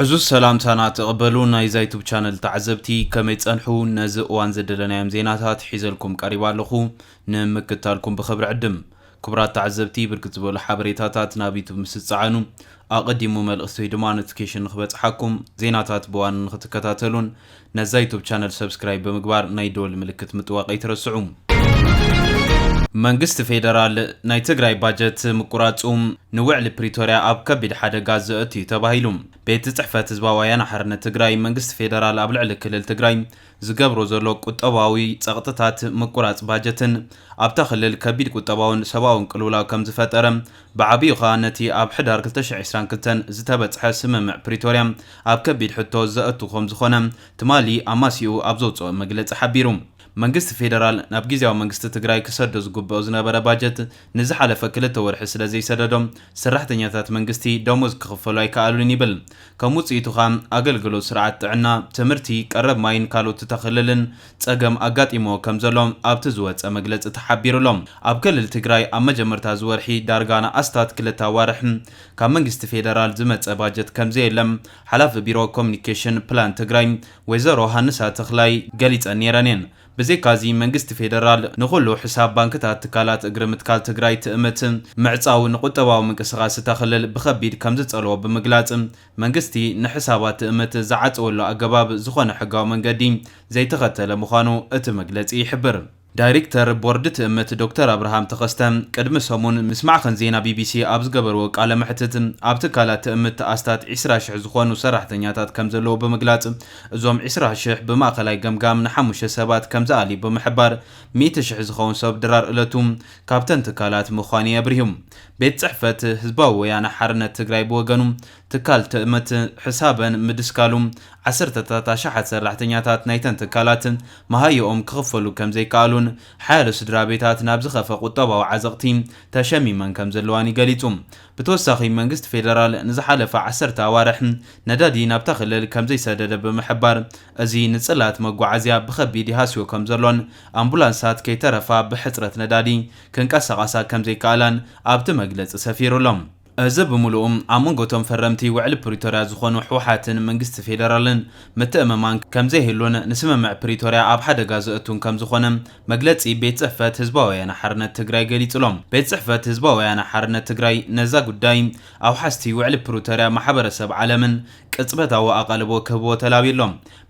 ዕዙዝ ሰላምታና ተቐበሉ ናይ ዛይቱብ ቻነል ተዓዘብቲ ከመይ ጸንሑ ነዚ እዋን ዘደለናዮም ዜናታት ሒዘልኩም ቀሪባ ኣለኹ ንምክታልኩም ብኽብሪ ዕድም ክቡራት ተዓዘብቲ ብርክት ዝበሉ ሓበሬታታት ናብ ዩቱብ ምስ ዝጸዓኑ ኣቐዲሙ መልእኽቲ ወይ ድማ ኖቲፊኬሽን ንክበጽሓኩም ዜናታት ብዋን ንክትከታተሉን ነዛ ዩቱብ ቻነል ሰብስክራይብ ብምግባር ናይ ደወል ምልክት ምጥዋቕ ኣይትረስዑ። መንግስቲ ፌደራል ናይ ትግራይ ባጀት ምቁራፁ ንውዕሊ ፕሪቶርያ ኣብ ከቢድ ሓደጋ ዘእቱ እዩ ተባሂሉ። ቤት ፅሕፈት ህዝባዊ ወያነ ሓርነት ትግራይ መንግስቲ ፌደራል ኣብ ልዕሊ ክልል ትግራይ ዝገብሮ ዘሎ ቁጠባዊ ፀቕጥታት ምቁራፅ ባጀትን ኣብታ ክልል ከቢድ ቁጠባውን ሰብኣውን ቅልውላው ከምዝፈጠረ ብዓቢኡ ከኣ ነቲ ኣብ ሕዳር ክልተ ሽሕ ዕስራን ክልተን ዝተበጽሐ ስምምዕ ፕሪቶርያ ኣብ ከቢድ ሕቶ ዘእቱ ከም ዝኾነ ትማሊ ኣማስይኡ ኣብ ዘውጽኦ መግለጺ ሓቢሩ። መንግስቲ ፌደራል ናብ ጊዝያዊ መንግስቲ ትግራይ ክሰዶ ዝግብኦ ዝነበረ ባጀት ንዝሓለፈ ክልተ ወርሒ ስለ ዘይሰደዶ ሰራሕተኛታት መንግስቲ ደሞዝ ክኽፈሉ ኣይከኣሉን ይብል። ከም ውጽኢቱ ከኣ ኣገልግሎት ስርዓት ጥዕና፣ ትምህርቲ፣ ቀረብ ማይን ካልኦት ተኽልልን ፀገም ኣጋጢምዎ ከምዘሎ ኣብቲ ዝወፀ መግለፂ ተሓቢሩ ኣሎ። ኣብ ክልል ትግራይ ኣብ መጀመርታ እዚ ወርሒ ዳርጋ ንኣስታት ክልተ ኣዋርሕ ካብ መንግስቲ ፌደራል ዝመፀ ባጀት ከምዘየለ ሓላፊ ቢሮ ኮሙኒኬሽን ፕላን ትግራይ ወይዘሮ ሃንሳ ተኽላይ ገሊፀን ነይረን እየን። ብዘይካ እዚ መንግስቲ ፌደራል ንኹሉ ሕሳብ ባንክታት ትካላት እግሪ ምትካል ትግራይ ትእምት ምዕፃው ንቁጠባዊ ምንቅስቓስ እታ ክልል ብኸቢድ ከምዝፀልዎ ብምግላፅ መንግስቲ ንሕሳባት ትእምት ዝዓጸወሉ ኣገባብ ዝኾነ ሕጋዊ መንገዲ ዘይተኸተለ ምዃኑ እቲ መግለጺ ይሕብር። ዳይሪክተር ቦርድ ትእምት ዶክተር ኣብርሃም ተኸስተ ቅድሚ ሰሙን ምስ ማዕኸን ዜና ቢቢሲ ኣብ ዝገበርዎ ቃለ መሕትት ኣብ ትካላት ትእምት ኣስታት ዕስራ ሽሕ ዝኾኑ ሰራሕተኛታት ከምዘለዉ ብምግላጽ እዞም ዕስራ ሽሕ ብማእኸላይ ገምጋም ንሓሙሽተ ሰባት ከምዝኣልዩ ብምሕባር ሚእቲ ሽሕ ዝኸውን ሰብ ድራር እለቱ ካብተን ትካላት ምዃኑ'ዩ ኣብሪሁ። ቤት ጽሕፈት ህዝባዊ ወያነ ሓርነት ትግራይ ብወገኑ፣ ትካል ትእምት ሕሳበን ምድስካሉ፣ ዓሰርተታት ኣሽሓት ሰራሕተኛታት ናይተን ትካላት መሃዮኦም ክኽፈሉ ከምዘይከኣሉን ሓያሎ ስድራቤታት ናብ ዝኸፍኣ ቁጠባዊ ዓዘቕቲ ተሸሚመን ከምዘለዋን'ዩ ገሊጹ። ብተወሳኺ መንግስቲ ፌደራል ንዝሓለፈ ዓሰርተ ኣዋርሕ ነዳዲ ናብታ ክልል ከምዘይሰደደ ብምሕባር፣ እዚ ንጽላት መጓዓዝያ ብኸቢድ ይሃስዮ ከምዘሎን ኣምቡላንሳት ከይተረፋ ብሕጽረት ነዳዲ ክንቀሳቐሳ ከምዘይከኣላን ኣብቲ መግለጺ ሰፊሩ ኣሎ። እዚ ብምሉኡ ኣብ መንጎ እቶም ፈረምቲ ውዕሊ ፕሪቶርያ ዝኾኑ ህወሓትን መንግስቲ ፌደራልን ምትእምማን ከምዘይህሉን ንስምምዕ ፕሪቶርያ ኣብ ሓደጋ ዘእቱን ከምዝኾነ መግለጺ ቤት ጽሕፈት ህዝባዊ ወያነ ሓርነት ትግራይ ገሊጹ'ሎ። ቤት ጽሕፈት ህዝባዊ ወያነ ሓርነት ትግራይ ነዛ ጉዳይ ኣውሓስቲ ውዕሊ ፕሪቶርያ ማሕበረሰብ ዓለምን ቅጽበታዊ ኣቓልቦ ክህብዎ ተላብዩ ኣሎ።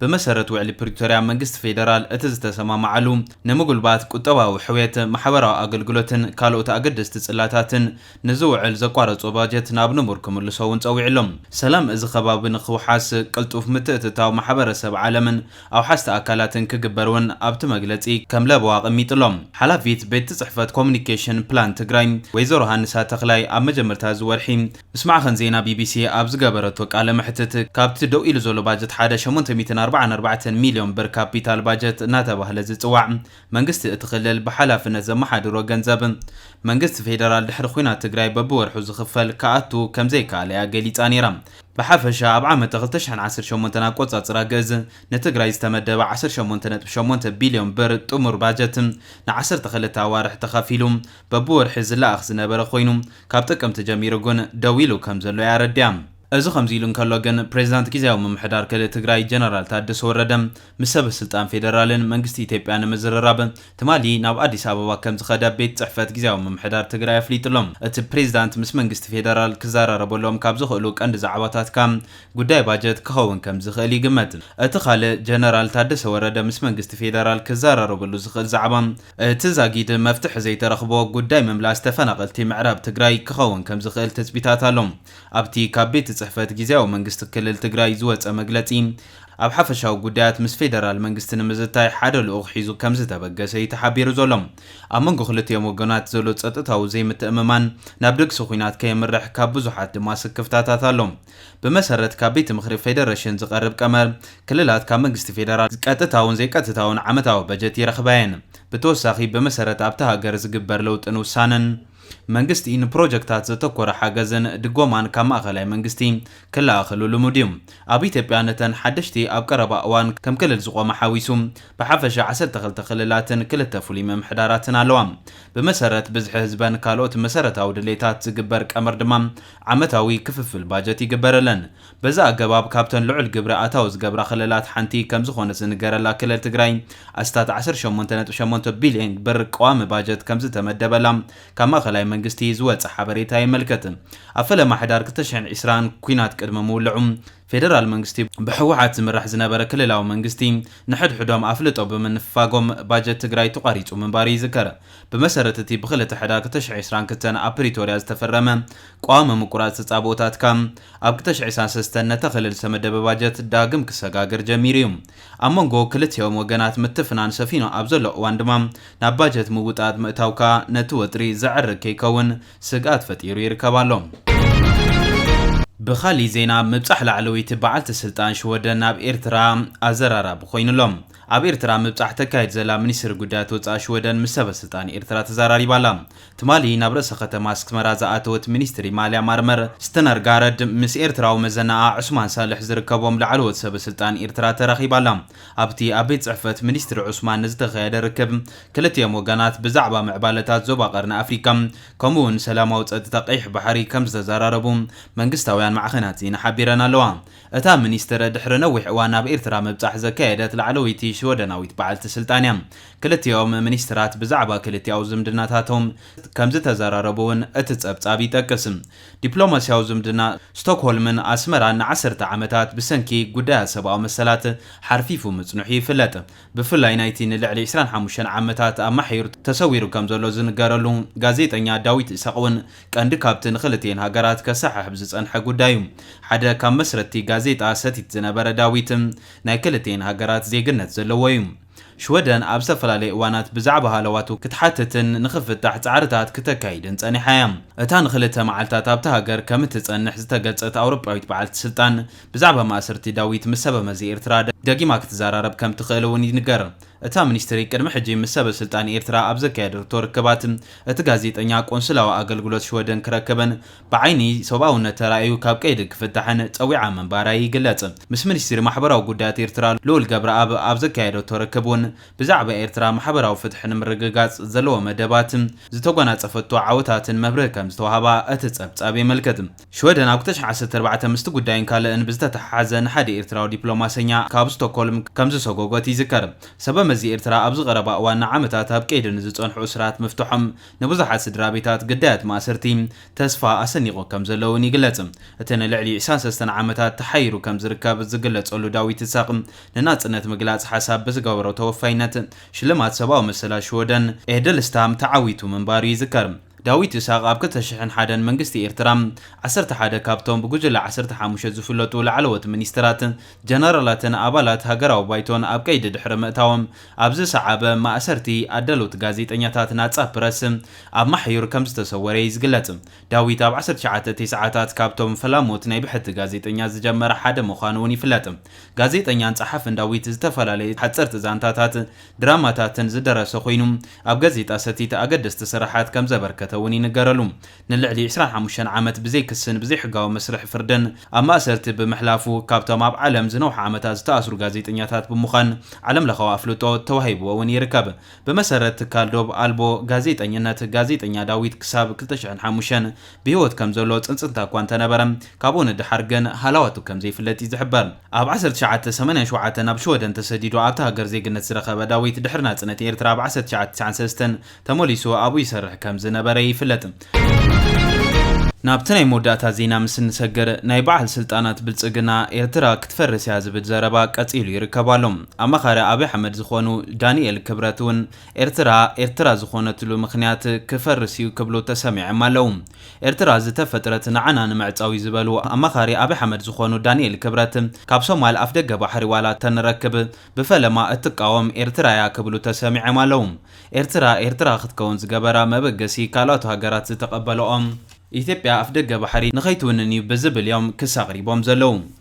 ብመሰረት ውዕሊ ፕሪቶርያ መንግስቲ ፌደራል እቲ ዝተሰማምዓሉ ንምጉልባት ቁጠባዊ ሕውየት፣ ማሕበራዊ ኣገልግሎትን ካልኦት ኣገደስቲ ጽላታትን ንዝውዕል ዘቋረጾ ባጀት ናብ ንቡር ክምልሶ እውን ጸዊዑ ኣሎ። ሰላም እዚ ከባቢ ንክውሓስ ቅልጡፍ ምትእትታው ማሕበረሰብ ዓለምን ኣውሓስቲ ኣካላትን ክግበር እውን ኣብቲ መግለጺ ከም ለበዋ ኣቐሚጡ ኣሎ። ሓላፊት ቤትጽሕፈት ኮሙኒኬሽን ፕላን ትግራይ ወይዘሮ ሃንሳ ተኽላይ ኣብ መጀመርታ እዚ ወርሒ፣ ምስ ማዕኸን ዜና ቢቢሲ ኣብ ዝገበረቶ ቃለ መሕትት፣ ካብቲ ደው ኢሉ ዘሎ ባጀት ሓደ ሸሞንተ ሚእትን ኣርባዓን ኣርባዕተን ሚልዮን ብር ካፒታል ባጀት እናተባህለ ዝጽዋዕ መንግስቲ እቲ ክልል ብሓላፍነት ዘመሓድሮ ገንዘብ መንግስቲ ፌደራል ድሕሪ ዂናት ትግራይ በብወርሑ ዝኽፈል ክኣቱ ከምዘይከኣለ'ያ ገሊጻ ነይራ። ብሓፈሻ ኣብ ዓመተ ክልተ ሽሕን ዓሰርተ ሸሞንተን ኣቆጻጽራ ግእዝ ንትግራይ ዝተመደበ ዓሰርተ ሸሞንተ ነጥቢ ሸሞንተ ቢልዮን ብር ጥሙር ባጀት ንዓሰርተ ክልተ ኣዋርሕ ተኸፊሉ በብወርሒ ዝለኣኽ ዝነበረ ኾይኑ ካብ ጥቅምቲ ጀሚሩ ግን ደው ኢሉ ከም ዘሎ እያ ኣረዲኣ። እዚ ከምዚ ኢሉ እንከሎ ግን ፕሬዚዳንት ግዝያዊ ምምሕዳር ክልል ትግራይ ጀነራል ታደሰ ወረደ ምስ ሰበ ስልጣን ፌደራልን መንግስቲ ኢትዮጵያ ንምዝርራብ ትማሊ ናብ ኣዲስ ኣበባ ከም ዝኸደ ቤት ፅሕፈት ግዝያዊ ምምሕዳር ትግራይ ኣፍሊጡ ኣሎ። እቲ ፕሬዚዳንት ምስ መንግስቲ ፌደራል ክዘራረበሎም ካብ ዝኽእሉ ቀንዲ ዛዕባታት ካዓ ጉዳይ ባጀት ክኸውን ከም ዝኽእል ይግመት። እቲ ካልእ ጀነራል ታደሰ ወረደ ምስ መንግስቲ ፌደራል ክዘራረበሉ ዝኽእል ዛዕባ እቲ ዛጊድ መፍትሒ ዘይተረኽቦ ጉዳይ ምምላስ ተፈናቐልቲ ምዕራብ ትግራይ ክኸውን ከምዝኽእል ትፅቢታት ኣሎ። ኣብቲ ካብ ቤት ፅሕፈት ጊዚያዊ መንግስቲ ክልል ትግራይ ዝወፀ መግለፂ፣ ኣብ ሓፈሻዊ ጉዳያት ምስ ፌደራል መንግስቲ ንምዝታይ ሓደ ልኡኽ ሒዙ ከምዝተበገሰ እዩ ተሓቢሩ ዘሎ። ኣብ መንጎ ክልቲኦም ወገናት ዘሎ ፀጥታዊ ዘይምትእምማን ናብ ደግሲ ኹናት ከየምርሕ ካብ ብዙሓት ድማ ስክፍታታት ኣሎ። ብመሰረት ካብ ቤት ምኽሪ ፌደረሽን ዝቐርብ ቀመር፣ ክልላት ካብ መንግስቲ ፌደራል ቀጥታውን ዘይቀጥታውን ዓመታዊ በጀት ይረኽባ እየን። ብተወሳኺ ብመሰረት ኣብታ ሃገር ዝግበር ለውጥን ውሳነን መንግስቲ ንፕሮጀክታት ዘተኮረ ሓገዝን ድጎማን ካብ ማእኸላይ መንግስቲ ክለኣኸሉ ልሙድ እዩ። ኣብ ኢትዮጵያ ነተን ሓደሽቲ ኣብ ቀረባ እዋን ከም ክልል ዝቖማ ሓዊሱ ብሓፈሻ ዓሰርተ ክልተ ክልላትን ክልተ ፍሉይ ምምሕዳራትን ኣለዋ። ብመሰረት ብዝሒ ህዝበን ካልኦት መሰረታዊ ድሌታት ዝግበር ቀመር ድማ ዓመታዊ ክፍፍል ባጀት ይግበረለን። በዚ ኣገባብ ካብተን ልዑል ግብሪ ኣታዊ ዝገብራ ክልላት ሓንቲ ከምዝኾነት ዝንገረላ ክልል ትግራይ ኣስታት ዓሰርተ ሸሞንተ ነጥቢ ሸሞንተ ቢሊየን ብር ቀዋሚ ባጀት ከምዝተመደበላ ካብ ማእኸላይ መንግስቲ ዝወፀ ሓበሬታ የመልክት። ኣብ ፈለማ ሕዳር ክልተ ሽሕን ዕስራን ኲናት ቅድሚ ምውልዑ ፌደራል መንግስቲ ብህወሓት ዝምራሕ ዝነበረ ክልላዊ መንግስቲ ንሕድሕዶም ኣፍልጦ ብምንፍፋጎም ባጀት ትግራይ ተቋሪፁ ምንባሩ ይዝከር። ብመሰረት እቲ ብክልተ ሕዳር ክልተ ሽሕ ዕስራን ክልተን ኣብ ፕሪቶርያ ዝተፈረመ ቀዋሚ ምቁራጽ ተጻብኦታትካ፣ ኣብ ክልተ ሽሕ ዕስራን ሰለስተን ነታ ክልል ዝተመደበ ባጀት ዳግም ክሰጋገር ጀሚሩ እዩ። ኣብ መንጎ ክልቲኦም ወገናት ምትፍናን ሰፊኑ ኣብ ዘሎ እዋን ድማ ናብ ባጀት ምውጣጥ ምእታው ከኣ ነቲ ወጥሪ ዘዕርግ ከይከውን ስግኣት ፈጢሩ ይርከብ ኣሎ። ብኻሊእ ዜና ምብጻሕ ላዕለወይቲ በዓልቲ ስልጣን ሽወደን ናብ ኤርትራ ኣዘራራቢ ኮይኑ ኣሎ። ኣብ ኤርትራ ምብጻሕ ተካይድ ዘላ ሚኒስትሪ ጉዳያት ወጻኢ ሽወደን ምስ ሰበስልጣን ኤርትራ ተዛራሪባ ኣላ። ትማሊ ናብ ርእሰ ከተማ ኣስክመራ ዝኣተወት ሚኒስትሪ ማልያ ማርመር ስተነርጋረድ ምስ ኤርትራዊ መዘናኣ ዑስማን ሳልሕ ዝርከቦም ላዕለዎት ሰበስልጣን ኤርትራ ተራኺባ ኣላ። ኣብቲ ኣብ ቤት ጽሕፈት ሚኒስትሪ ዑስማን ንዝተኻየደ ርክብ ክልቲኦም ወገናት ብዛዕባ ምዕባለታት ዞባ ቀርኒ ኣፍሪቃ ከምኡ'ውን ሰላማዊ ጸጥታ ቀይሕ ባሕሪ ከምዝተዘራረቡ መንግስታውያን ማዕኸናት ዜና ሓቢረን ኣለዋ። እታ ሚኒስትር ድሕሪ ነዊሕ እዋን ናብ ኤርትራ ምብጻሕ ዘካየደት ላዕለወይቲ ሽወደናዊት በዓልቲ ስልጣን እያ። ክልቲኦም ሚኒስትራት ብዛዕባ ክልቲኣዊ ዝምድናታቶም ከምዝተዘራረቡ'ውን እቲ ጸብጻብ ይጠቅስ። ዲፕሎማስያዊ ዝምድና ስቶክሆልምን ኣስመራን ንዓሰርተ ዓመታት ብሰንኪ ጉዳያት ሰብኣዊ መሰላት ሓርፊፉ ምጽንሑ ይፍለጥ። ብፍላይ ናይቲ ንልዕሊ ዕስራን ሓሙሽተን ዓመታት ኣብ ማሕዩር ተሰዊሩ ከምዘሎ ዝንገረሉ ጋዜጠኛ ዳዊት ኢሳቕ'ውን ቀንዲ ካብቲ ንክልቲኤን ሃገራት ከሰሓሕብ ዝጸንሐ ጉዳይ እዩ። ሓደ ካብ መስረትቲ ጋዜጣ ሰቲት ዝነበረ ዳዊት፣ ናይ ክልቲኤን ሃገራት ዜግነት ዘለዎ እዩ። ሽወደን ኣብ ዝተፈላለየ እዋናት ብዛዕባ ሃለዋቱ ክትሓትትን ንኽፍታሕ ጻዕርታት ክተካይድን ጸኒሓ እያ። እታ ንኽልተ መዓልታት ኣብታ ሃገር ከም እትጸንሕ ዝተገልጸት ኣውሮጳዊት በዓልቲ ስልጣን፣ ብዛዕባ ማእሰርቲ ዳዊት ምስ ሰበመዚ ኤርትራ ደጊማ ክትዘራረብ ከም እትኽእል እውን ይንገር። እታ ሚኒስትሪ ቅድሚ ሕጂ ምስ ሰበስልጣን ኤርትራ ኣብ ዘካየደቶ ርክባት፣ እቲ ጋዜጠኛ ቆንስላዊ ኣገልግሎት ሽወደን ክረከበን ብዓይኒ ሰብኣውነት ተራእዩ ካብ ቀይዲ ክፍታሕን ጸዊዓ ምንባራ ይግለጽ። ምስ ሚኒስትሪ ማሕበራዊ ጉዳያት ኤርትራ ልኡል ገብረኣብ ኣብ ዘካየደቶ ርክብ'ውን ብዛዕባ ኤርትራ ማሕበራዊ ፍትሒ ንምርግጋጽ ዘለዎ መደባትን ዝተጎናጸፈቶ ዓወታትን መብርሂ ከምዝተዋህባ እቲ ጸብጻብ የመልክት። ሽወደን ኣብ ክልተ ሽሕ ዓሰርተ ኣርባዕተ ምስቲ ጉዳይን ካልእን ብዝተተሓሓዘ ንሓደ ኤርትራዊ ዲፕሎማሰኛ ካብ ስቶኮልም ከምዝሰጎጎት ይዝከር። ሰበመዚ ኤርትራ ኣብዚ ቀረባ እዋን ንዓመታት ኣብ ቀይዲ ንዝጸንሑ እሱራት ምፍትሖም ንብዙሓት ስድራቤታት ግዳያት ማእሰርቲ ተስፋ ኣሰኒቑ ከምዘሎ እውን ይግለጽ። እቲ ንልዕሊ ዕስራን ሰለስተን ዓመታት ተሓይሩ ከምዝርከብ ዝግለጸሉ ዳዊት እሳቕ ንናጽነት ምግላጽ ሓሳብ ብዝገበሮ ተወፋይነት ሽልማት ሰብኣዊ መሰላት ሽወደን ኤህደልስታም ተዓዊቱ ምንባሩ ይዝከር። ዳዊት ኢሳቕ ኣብ ክልተ ሽሕን ሓደን መንግስቲ ኤርትራ፣ ዓሰርተ ሓደ ካብቶም ብጉጅለ ዓሰርተ ሓሙሽተ ዝፍለጡ ላዕለዎት ሚኒስተራት፣ ጀነራላትን ኣባላት ሃገራዊ ባይቶን ኣብ ቀይዲ ድሕሪ ምእታዎም፣ ኣብ ዝሰዓበ ማእሰርቲ ኣዳለውቲ ጋዜጠኛታት ናጻ ፕረስ ኣብ ማሕዩር ከምዝተሰወረ'ዩ ዝግለጽ። ዳዊት ኣብ ዓሰርተ ትሽዓተ ቴስዓታት ካብቶም ፈላሞት ናይ ብሕቲ ጋዜጠኛ ዝጀመረ ሓደ ምዃኑ'ውን ይፍለጥ። ጋዜጠኛን ጸሓፍን ዳዊት ዝተፈላለዩ ሓጸርቲ ዛንታታት፣ ድራማታትን ዝደረሰ ኮይኑ፣ ኣብ ጋዜጣ ሰቲት ኣገደስቲ ስራሓት ከም ዘበርከተ እውን ይንገረሉ። ንልዕሊ ዕስራን ሓሙሽተን ዓመት ብዘይ ክስን ብዘይ ሕጋዊ መስርሕ ፍርድን ኣብ ማእሰርቲ ብምሕላፉ ካብቶም ኣብ ዓለም ዝነውሓ ዓመታት ዝተኣስሩ ጋዜጠኛታት ብምዃን ዓለምለኻዊ ኣፍልጦ ተዋሂብዎ እውን ይርከብ። ብመሰረት ትካል ዶብ ኣልቦ ጋዜጠኝነት፣ ጋዜጠኛ ዳዊት ክሳብ ክልተ ሽሕን ሓሙሽተን ብህይወት ከም ዘሎ ጽንጽንታ እኳ እንተ ነበረ፣ ካብኡ ንደሓር ግን ሃላዋቱ ከም ዘይፍለጥ እዩ ዝሕበር። ኣብ ዓሰርተ ትሽዓተ ሰማንያን ሸውዓተን ኣብ ሽወደን ተሰዲዱ ኣብታ ሃገር ዜግነት ዝረኸበ ዳዊት፣ ድሕሪ ናጽነት ኤርትራ ኣብ ዓሰርተ ትሽዓተ ትስዓን ሰለስተን ተመሊሱ ኣብኡ ይሰርሕ ከም ዝነበረ ይፍለጥ። ናብቲ ናይ መወዳእታ ዜና ምስ እንሰግር፣ ናይ በዓል ስልጣናት ብልጽግና፣ ኤርትራ ክትፈርስ እያ ዝብል ዘረባ ቀጺሉ ይርከብ ኣሎ። ኣማኻሪ ኣብይ ኣሕመድ ዝኾኑ ዳኒኤል ክብረት'ውን ኤርትራ ኤርትራ ዝኾነትሉ ምኽንያት ክፈርስ እዩ ክብሉ ተሰሚዐም ኣለው። ኤርትራ ዝተፈጥረት ንዓና ንምዕጻው እዩ ዝበሉ ኣማኻሪ ኣብይ ሓመድ ዝኾኑ ዳኒኤል ክብረት ካብ ሶማል ኣፍደገ ባሕሪ ዋላ ተንረክብ ብፈለማ እትቃወም ኤርትራ እያ ክብሉ ተሰሚዐም ኣለው። ኤርትራ ኤርትራ ክትከውን ዝገበራ መበገሲ ካልኦት ሃገራት ዝተቀበለኦ ኢትዮጵያ ኣፍደገ ባሕሪ ንኸይትውንን እዩ ብዝብል እዮም ክስ ኣቅሪቦም ዘለው።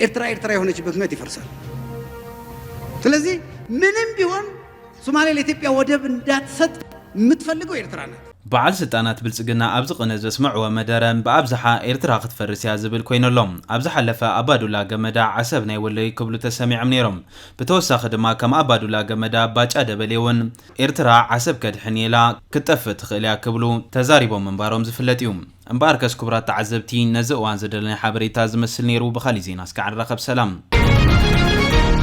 ኤርትራ ኤርትራ የሆነችበት ምክንያት ይፈርሳል። ስለዚህ ምንም ቢሆን ሶማሌ ለኢትዮጵያ ወደብ እንዳትሰጥ የምትፈልገው ኤርትራ ናት። በዓል ስልጣናት ብልጽግና ኣብዚ ቅነ ዘስመዕዎ መደረ ብኣብዝሓ ኤርትራ ክትፈርስ እያ ዝብል ኮይኑ ኣሎ። ኣብ ዝሓለፈ ኣባዱላ ገመዳ ዓሰብ ናይ ወሎ እዩ ክብሉ ተሰሚዖም ነይሮም። ብተወሳኺ ድማ ከም ኣባዱላ ገመዳ ባጫ ደበሌ እውን ኤርትራ ዓሰብ ከድሕን እየ ኢላ ክትጠፍእ ትኽእል እያ ክብሉ ተዛሪቦም ምንባሮም ዝፍለጥ እዩ። እምበኣርከስ ክቡራት ተዓዘብቲ ነዚ እዋን ዘደለናዮ ሓበሬታ እዚ መስል ነይሩ ብኻሊእ ዜና እስካዕ ንራኸብ ሰላም።